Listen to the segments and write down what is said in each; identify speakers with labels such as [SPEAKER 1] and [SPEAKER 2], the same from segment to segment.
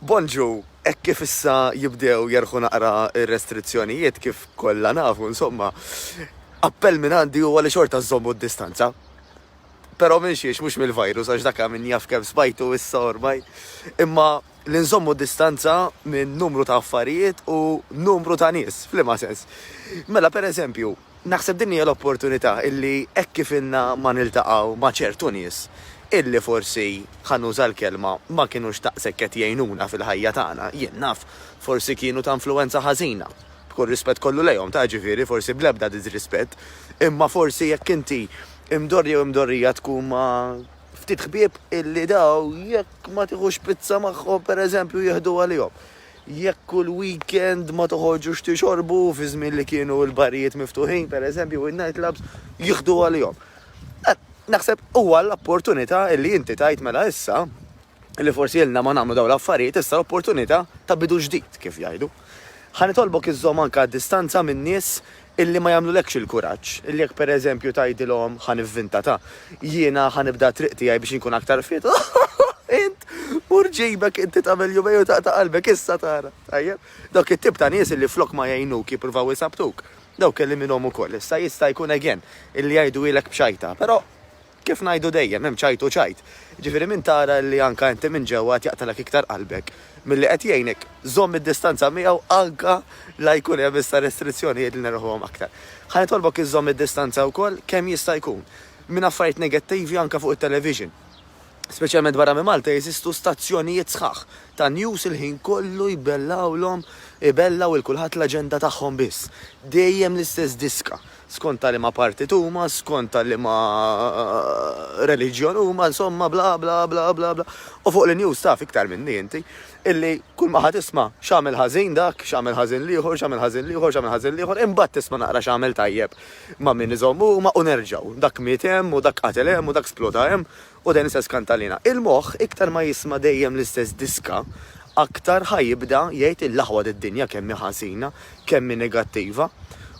[SPEAKER 1] Bonġu, hekk kif issa jibdew jerħu naqra r-restrizzjonijiet, kif kollha nafu insomma, appell minn għandi huwa li xorta żżommu d-distanza. Però minn xiex mhux mill-virus għax dak min jaf kemm smajtu issa ormai, imma li nżommu d-distanza minn numru ta' affarijiet u numru ta' nies. F'liema sens? Mela pereżempju, Naħseb din hija l-opportunità illi hekk kif ilna ma niltaqgħu ma' ċertu nies illi forsi, ħa nuża l-kelma, ma kinux daqshekk qed jgħinuna fil-ħajja tagħna, jien naf, forsi kienu ta' influwenza ħażina, b'kull rispett kollu lejhom, ta' jiġifieri, forsi bl-ebda diżrispett, imma forsi jekk inti imdorri jew imdorrija tkun ma' ftit ħbieb illi daw jekk ma tieħux pizza magħhom, pereżempju, jieħdu għalihom. Jekk kull weekend ma toħorġux tixorbu fi żmien li kienu l-barijiet miftuħin, pereżempju, u n-night clubs jieħdu għalihom. Eh, naħseb huwa l-opportunità li inti tgħid mela issa li forsi ilna ma nagħmlu dawn l-affarijiet issa l-opportunità ta' bidu ġdid, kif jgħidu. Ħa nitolbok iżżomm anke distanza min-nies illi ma jagħmlulekx il-kuraġġ, illi jekk pereżempju tgħidilhom ħa nivvinta ta', jiena ħa nibda t-triq tiegħi biex inkun aktar fit, int mur ġibek inti tagħmel jumej u taqta' qalbek issa tara. Tajjeb? Dawk it-tip ta' nies illi flok ma jgħinuk jippruvaw isabbtuk. Dawk kellimilhom ukoll issa jista' jkun again illi jgħiduhielek b'xajta, però. Kif ngħidu dejjem, hemm ċajt u ċajt. Jiġifieri minn tara li anke inti minn ġewwa qed jaqtgħalek iktar qalbek milli qed jgħinek, żomm id-distanza miegħu anke la jkun hemm issa restrizzjonijiet li neruħuhom aktar. Ħa nitolbok iżżomm id-distanza wkoll kemm jista' jkun minn affarijiet negattivi anke fuq it-television. Speċjalment barra minn Malta jeżistu stazzjonijiet sħaħ ta' news il-ħin kollu jbellgħulhom, ibellgħu 'l kulħadd l-aġenda tagħhom biss. Dejjem l-istess diska. skont ta' liema partit huma, skont ta' liema reliġjon huma, insomma bla bla bla bla bla. U fuq l-news taf iktar minni inti illi kulma ħa tisma' x'għamel ħażin dak, x'għamel ħażin l-ieħor, x'għamel ħażin l-ieħor, x'għamel ħażin l-ieħor, imbagħad tisma' naqra x'għamel tajjeb ma' min iżomm huma u nerġgħu, dak miet hemm u dak qatel hemm u dak sploda hemm U dan istess kantalina. Il-moħħ iktar ma jisma' dejjem l-istess diska, aktar ħa jibda jgħid il-aħwa tad-dinja kemm hi ħażina, kemm hi negattiva.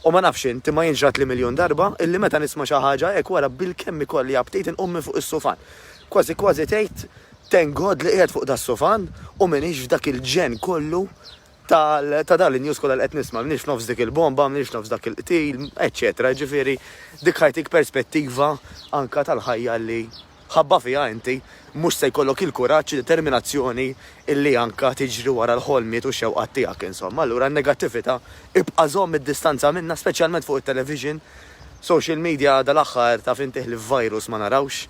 [SPEAKER 1] U ma nafx int, imma jien ġratli miljun darba illi meta nisma' xi ħaġa hekk wara bilkemm ikolli aptit inqum minn fuq is-sufan. Kważi kważi tgħid, Thank God li qiegħed fuq das-sufan u m'iniex f'dak il-ġenn kollu ta' dan in-news kollha li qed nisma', m'iniex nofs dik il-bomba, m'iniex nofs dak il-qtil, eċċetera Jiġifieri dik ħajtik perspettiva anke tal-ħajja li mħabba fiha inti mhux se jkollok il-kuraġġ, id-determinazzjoni illi anke tiġri wara l-ħolmiet u x-xewqat tiegħek insomma. Allura n-negattività ibqa' żomm id-distanza minnha speċjalment fuq it-television, social media dalgħaħħar taf intih li f'virus ma narawx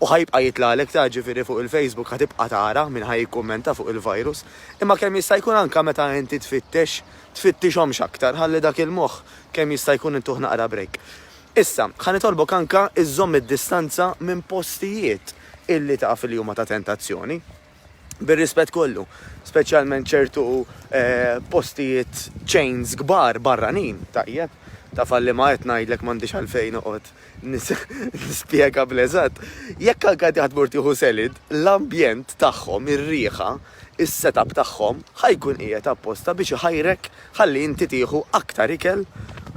[SPEAKER 1] u ħa jibqa' jitlagħlek ta' jiġifieri fuq il-Facebook ħa tibqa' tara min ħa jikkummenta fuq il-virus imma kemm jista' jkun anke meta inti tfittex tfittixhomx aktar ħalli dak il-moħħ kemm jista' jkun intuh naqra break. Issa, ħa nitolbok anke iżżomm id-distanza minn postijiet illi taf li huma ta' tentazzjoni. bir-rispett kollu, speċjalment ċertu postijiet chains kbar barranin, tajjeb, taf għal liema qed ngħidlek m'għandix għalfejn noqgħod nispjega bl-eżatt, jekk anke inti ħa tmur tieħu selid, l-ambjent tagħhom, ir-riħa, is-setup tagħhom ħa jkun qiegħed apposta biex iħajrek ħalli inti tieħu aktar ikel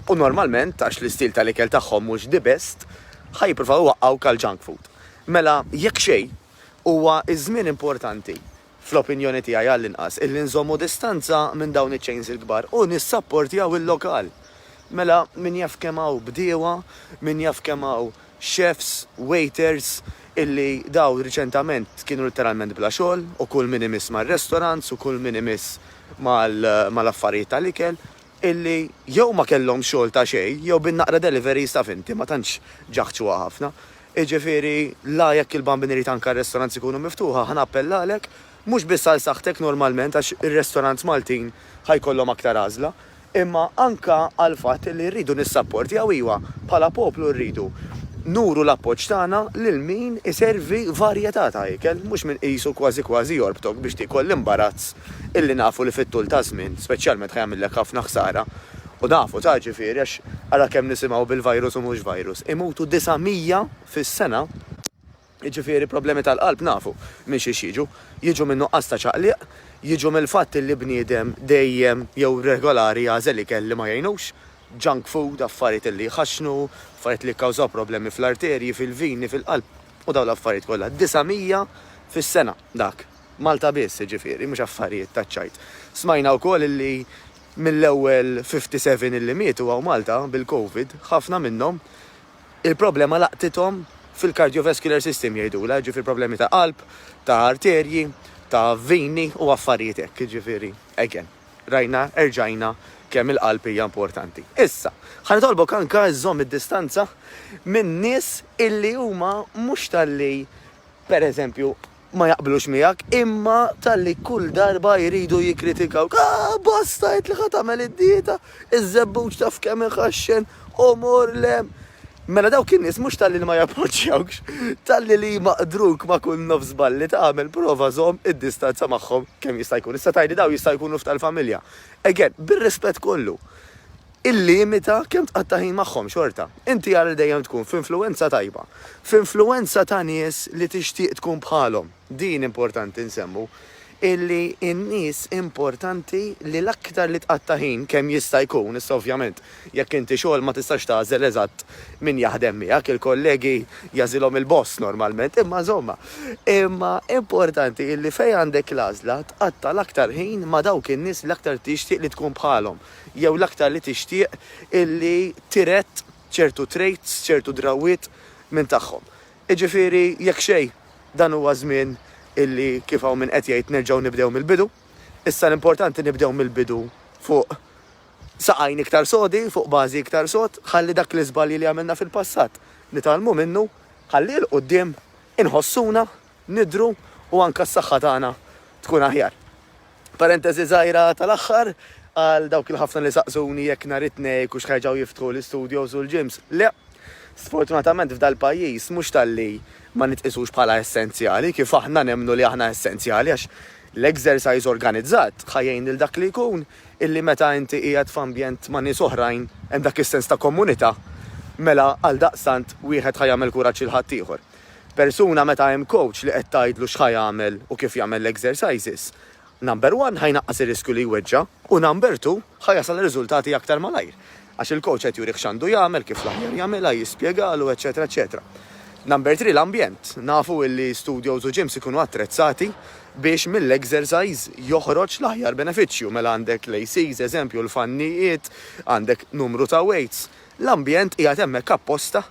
[SPEAKER 1] u normalment, għax l-istil tal-ikel tagħhom mhux the best, ħa jippruvaw iwaqqgħuk għall-junk food. Mela, jekk xejn, Huwa ż-żmien importanti, fl-opinjoni tiegħi għall-inqas, illi nżommu distanza minn dawn iċ-chains il-kbar u nissapportjaw il-lokal. Mela, min jaf kemm hawn bdiewa, min jaf kemm hawn chefs, waiters, illi dawn riċentament kienu litteralment bla xogħol u kull min imiss mar-restaurants u kull min imiss mal-affarijiet tal-ikel, illi jew ma kellhomx xogħol ta' xejn jew bin-naqra deliveries taf inti ma tantx ġaħġuha ħafna. Jiġifieri la jekk il-Bambin irid anke r-restaurants ikunu miftuħa ħa nappellalek mhux biss għal saħħtek normalment għax ir-restaurants Maltin ħa jkollhom aktar għażla imma anke għall-fatt illi rridu nissapportjaw iva bħala poplu rridu nuru l-appoġġ tagħna lil min iservi varjetà ta' ikel mhux min qisu kważi kważi jorbtok biex tiekol l-imbarazz illi nafu li fit-tul taż-żmien speċjalment ħa jagħmillek ħafna ħsara, u nafu ta' ġifieri għax ara kemm nisimgħu bil-virus u mhux virus, imutu 900 fis-sena, jiġifieri problemi tal-qalb nafu minn xiex jiġu, jiġu minn nuqqas ta' ċaqliq, jiġu mill-fatt illi bniedem dejjem jew regolari jagħżel ikel li ma jgħinux, junk food, affarijiet illi jħaxxnu, affarijiet li jikkawżaw problemi fl-arterji, fil-vini, fil-qalb, u dawn l-affarijiet kollha. 900 fis-sena dak. Malta biss, jiġifieri, mhux affarijiet taċ-ċajt. Smajna wkoll illi mill-ewwel 57 illi mietu hawn Malta bil-Covid, ħafna minnhom il-problema laqtithom fil-cardiovascular system jgħidulha, jiġifieri problemi ta' qalb, ta' arterji, ta' vini u affarijiet hekk, jiġifieri, again, rajna, erġajna kemm il-qalb hija importanti. Issa, ħa nitolbok anke żżomm id-distanza minn nies illi huma mhux talli, pereżempju, ma jaqblux miegħek imma talli kull darba jridu jikkritikawk, ah basta għedt li ħa tagħmel id-dieta, iż-żebbuġ taf kemm iħaxxen, u mur l hemm. Mela dawk in-nies mhux talli li ma jappoġġjawkx, talli li jmaqdruk ma' kull nofs żball li tagħmel prova żomm id-distanza magħhom kemm jista' jkun. Issa tgħidli dawn jistgħu jkunu f'tal-familja. Again, bir-rispett kollu. Illimita kemm tqatta' ħin magħhom xorta. Inti ara li dejjem tkun f'influwenza tajba. F'influwenza ta' nies li tixtieq tkun bħalhom. Din importanti nsemmu, illi n-nies importanti li l-aktar li tqatta' ħin kemm jista' jkun, issa ovvjament jekk inti xogħol ma tistax tagħżel eżatt min jaħdem miegħek, il-kollegi jagħżilhom il-boss normalment, imma insomma. Imma importanti illi fejn għandek l-għażla tqatta' l-aktar ħin ma' dawk in-nies li l-aktar tixtieq li tkun bħalhom. jew l-aktar li tixtieq illi tirett ċertu traits, ċertu drawwiet minn tagħhom. Jiġifieri, jekk xejn, dan huwa żmien illi, kif hawn min qed jgħid, nerġgħu nibdew mill-bidu. Issa l-importanti nibdew mill-bidu fuq saqajn iktar sodi, fuq bażi iktar sod, ħalli dak l-iżbalji li għamilna fil-passat nitgħallmu minnu, ħalli 'l quddiem inħossuna nidhru u anke s-saħħa tagħna tkun aħjar. Parenteżi żgħira tal-aħħar, għal dawk il-ħafna li saqsuni jekk nhar it-Tnejn ikux ħerġgħu jiftħu l-istudios u l-gyms, le. Sfortunatament f'dal-pajjiż mhux talli ma nitqisux bħala essenzjali, kif aħna nemmnu li aħna essenzjali għax l-exercise organizzat ħa jgħin lil dak li jkun illi meta inti qiegħed f'ambjent ma' nies oħrajn hemm dak is-sens ta' kommunità, mela għaldaqstant wieħed ħa jagħmel kuraġġ lil ħaddieħor. Persuna meta hemm coach li qed tgħidlu x'ħa jagħmel u kif jagħmel l-exercises, number one ħa jnaqqas ir-riskju li jweġġa' u number two ħa jasal għar-riżultati aktar malajr għax il-coach qed jurih x'għandu jagħmel, kif l-aħjar jagħmilha, jispjegalu, eċċetera eċċetera. Number three l-ambjent, nafu illi studios u gyms ikunu attrezzati biex mill-exercise joħroġ l-aħjar benefiċċju, mela għandek l-ACs, eżempju, l-fannijiet, għandek numru ta' weights, L-ambjent qiegħed hemmhekk apposta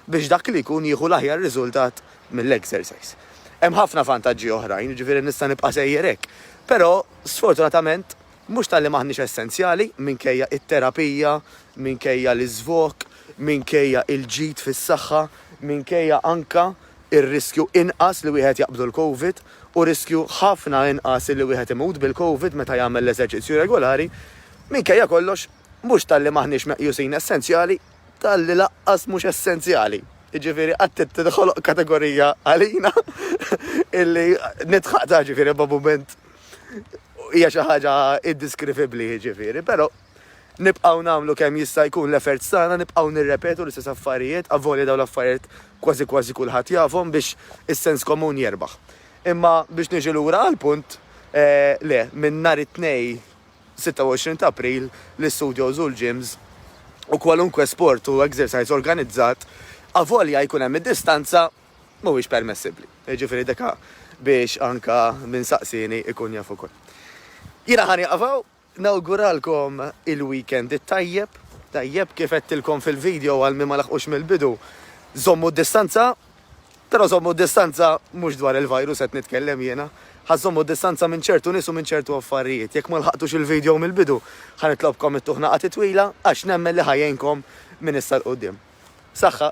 [SPEAKER 1] biex dak li jkun jieħu l-aħjar riżultat mill-exercise. Hemm ħafna vantaġġi oħrajn, jiġifieri nista' nibqa' sejjer hekk. Però, sfortunatament, mhux talli m'aħniex essenzjali, minkejja it-terapija, minkejja l-iżvog, minkejja l-ġid fis-saħħa, minkejja anke r-riskju inqas li wieħed jaqbdu l-Covid u riskju ħafna inqas li wieħed imut bil-Covid meta jagħmel l-eżerċizzju regolari, minkejja kollox, Mhux talli m'aħniex meqjusin essenzjali, talli lanqas mhux essenzjali. Jiġifieri qatt tinħoloq kategorija għalina illi nitħaqtha ġifieri ma' mument hija xi ħaġa indiskrivibbli jiġifieri, però nibqgħu nagħmlu kemm jista' jkun l-efforts tagħna, nibqgħu nirrepetu l-istess affarijiet, avolja dawn l-affarijiet kważi kważi kulħadd jafhom biex is-sens komun jerbaħ. Imma biex niġi lura għall-punt, le, minn nhar it-Tnejn 26 ta' April, l-istudios u l-gyms u kwalunkwe sport u exercise organizzat, avolja jkun hemm id-distanza, mhuwiex permessibbli. Jiġifieri deka biex anka min saqsieni ikun jaf ukoll. Jiena ħa nieqaf hawn, nawguralkom il-weekend it-tajjeb, tajjeb, kif għedtilkom fil-video għal min ma laħqux mill-bidu, żommu d-distanza. Però żommu d-distanza, mhux dwar il-virus qed nitkellem jiena, ħa żżommu d-distanza minn ċertu nies u minn ċertu affarijiet. Jekk ma lħaqtux il-video mill-bidu, ħa nitlobkom ittuh nagħqad itwila għax nemmen li ħa jgħinkom minn issa 'l quddiem. Saħħa!